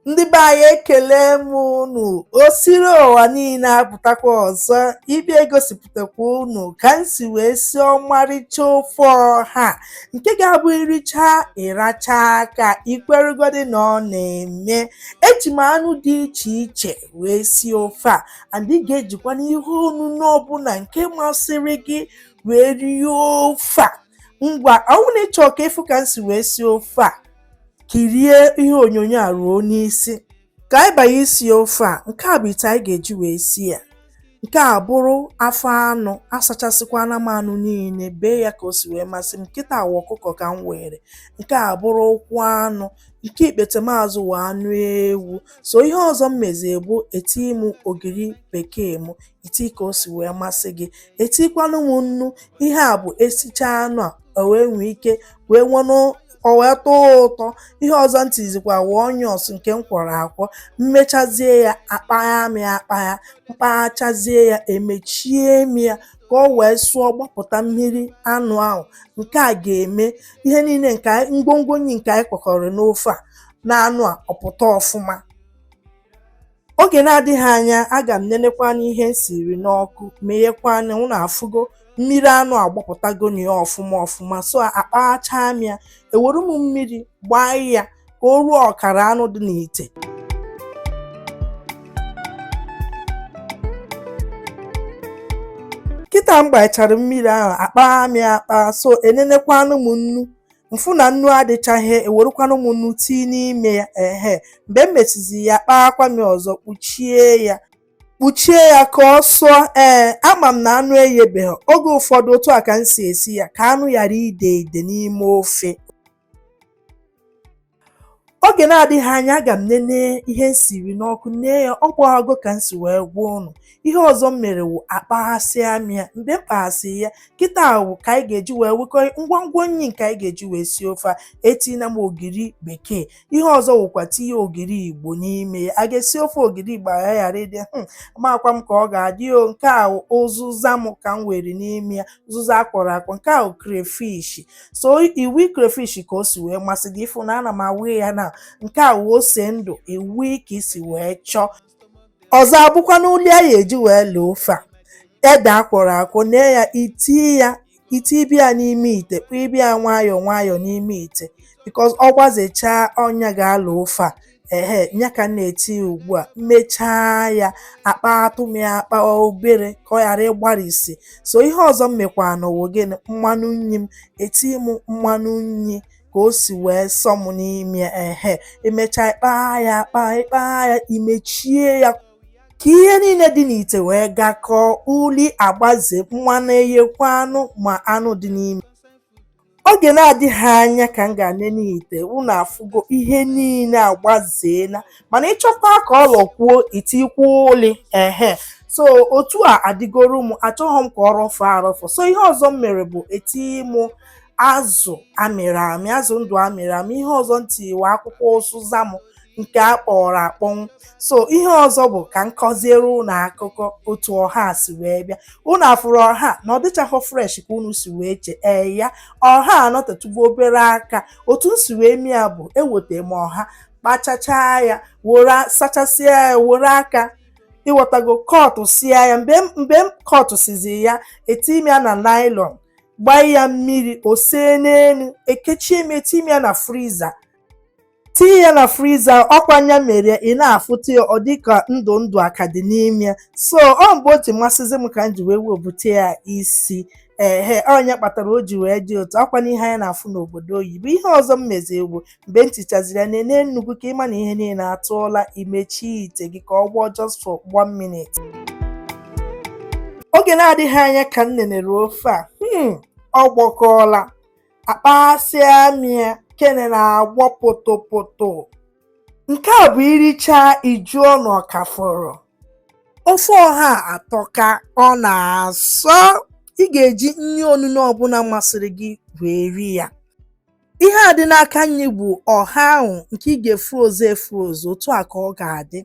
ndị be anyị ekele m unu o siri ụwa niile apụtakwa ọzọ ịbịa egosipụtakwa unu ka m si wee si ọmarịcha ofe ọha nke ga-abụ iricha ịracha aka i kweregodi na ọ na-eme eji m anụ dị iche iche wee si ofe a and ị ga-ejikwanụ ihe onunu ọbụla nke masịrị gị wee rie ofe a ngwa ọ wụ na ị chọọ ka ị fụ ka m si wee si ofe a kirie ihe onyonyo a ruo n'isi ka anyị banye isi ofe a nke a bụ ite anyị ga-eji wee si ya nke a bụrụ afọ anụ asachasịkwana m anụ niile bee ya ka o si wee masị m kịta a wụ ọkụkọ ka m were nke a bụrụ ụkwụ anụ nke ikpete m azụ wụ anụ ewu so ihe ọzọ m mezie bụ eti m ogiri bekee m i tii ka o si wee masị gị etikwanụ m nnu ihe a bụ e sichaa anụ a o wee nwee ike wee nwenụ O wee tọọ ụtọ, ihe ọzọ m tizikwa wụ onions nke m kwọrọ akwọ, m mechazie ya akpagha m ya akpagha, m kpaghachazie ya emechie m ya ka o wee sụọ gbapụta mmiri anụ ahụ, nke a ga-eme ihe niile nke anyị ngwongwo nni nke anyị kwọkọrọ n'ofe a na anụ a ọ pụta ọfụma. oge na-adịghị anya aga m nenekwanụ ihe m siri n'ọkụ meghekwanụ ya unu afụgo mmiri anụ agbapụtago na ya ọfụma ọfụma so akpaghachaa m ya ewere m mmiri gbaa ya ka o ruo ọkara anụ dị n'ite kịta m gbachara mmiri ahụ akpaa m ya akpa so enenekwanụ m nnu m fụ na nnu adịchaghị ewerekwanụ m nnu tii n'ime ya ehe mgbe m mesizi ya akpaakwa m ya ọzọ kpuchie ya kpuchie ya ka ọ sụọ ee ama m na anụ eyebeghị oge ụfọdụ otu a ka m si esi ya ka anụ ghara ide ide n'ime ofe oge na-adịghị anya aga m nene ihe m siri n'ọkụ nee ya ọ gbaago ka m si wee gwa unu ihe ọzọ m mere wụ akpaghasịa m ya mgbe m kpaghasị ya kịta wụ ka anyị ga-eji wee wekọ ngwongwo nri nke anyị ga-eji wee sie ofe a etina m ogiri bekee ihe ọzọ wụkwa tinye ogiri igbo n'ime ya a ga-esi ofe ogiri igbo aghara ịdị hmm, amakwa m ka ọ ga-adị o nke a ụzụza m ka m were n'ime ya zụza akwọrọ akwọ nke a wụ crayfish so iwi crayfish ka o si wee masị gị ị fụ na ana m awụ ya na nke a wụ ose ndụ iwi ka i si wee chọọ ọzọ abụkwanụ uli a ya-eji wee laa ofe a ede akwọrọ akwọ nee ya i tie ya i tibe ya n'ime ite kpụbe ya nwayọọ nwayọọ n'ime ite because ọ gbazechaa ọ nya ga-ala ofe a ehe ya ka m na-eti ya ugbu a m mechaa ya akpatụ m ya akpa obere ka ọ ghara ịgbarisi so ihe ọzọ m mekwanụ wụ gịnị mmanụ nri m eti m mmanụ nri ka o si wee sọ m n'ime ya ehe emechaa ịkpaa ya akpa ịkpaa ya imechie ya ka ihe niile dị n'ite wee gakọọ uli agbaze mmanụ eghekwanụ ma anụ dị n'ime Oge na-adịghị anya ka m gaa nene ite, unu afụgo ihe niile agbazeela mana ị chọkwa ka ọ lọkwuo i tikwu uli ehe so otu a adịgoro m achọghị m ka ọ rọfọ arọfọ so ihe ọzọ m mere bụ eti m azụ amịrị amị azụ ndụ amịrị amị ihe ọzọ m ti wụ akwụkwọ ụzịza m nke a kpọrọ akpọnwụ so ihe ọzọ bụ ka m kọziere unu akụkọ otu ọha a si wee bịa unu afụrụ ọha na ọ dịchaghọ fresh ka unu si wee chee ya ọha anọtatụgo obere aka otu m si wee mee ya bụ eweta m ọha kpachachaa ya sachasịa ya were aka ị ghọtago kọtụsịa ya mgbe m kọtụsịzị ya eti m ya na nylon gbaa ya mmiri o see n'elu ekechie m eti m ya na friza tinye ya na friza ọkwa nya mere ị na-afụta ya ọ dịka ndụ ndụ a ka dị n'ime ya so ọ mgbe o ji masịzi m ka m ji wee webute ya isi ehe ọ nya kpatara o ji wee dị otu a ọkwanụ ihe anyị na-afụ n'obodo oyibo ihe ọzọ m mezi wụ mgbe m tichaziri ya nene nnu gị ka ị ma na ihe niile atụọla imechie ite gị ka ọ gbọọ just for one minute oge na-adịghị anya ka m nenere ofe a hmm, ọ gbọkọọla akpaghasịa m ya kene na-agbọ potopoto nke a bụ i richaa ị jụọ na ọ ka fọrọ ofe ọha atọka ọ na-asọ ị ga-eji nri onuno ọbụla masịrị gị wee rie ya ihe a dị n'aka nri bụ ọha ahụ nke ị ga-efroze efroze otu a ka ọ ga-adị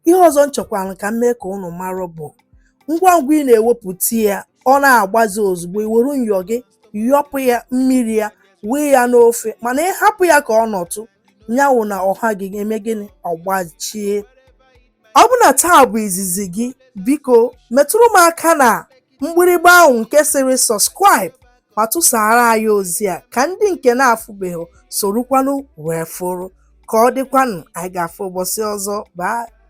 ihe ọzọ m chọkwara ka m mee ka unu mara bụ ngwa ngwa ị na-ewepụta ya ọ na-agbaze ozugbo i were nyọ gị yọpụ ya mmiri ya wee ya n'ofe mana ị hapụ ya ka ọ nọtụ nya wụ na ọha gị eme gịnị ọ gbachie ọ bụ na taa bụ izizi gị biko metụrụ m aka na mgbịrịgba ahụ nke sịrị subscribe ma tụsara anyị ozi a ka ndị nke na-afụbeghị sorokwanụ wee fụrụ ka ọ dịkwanụ anyị ga-afụ ụbọchị ọzọ bye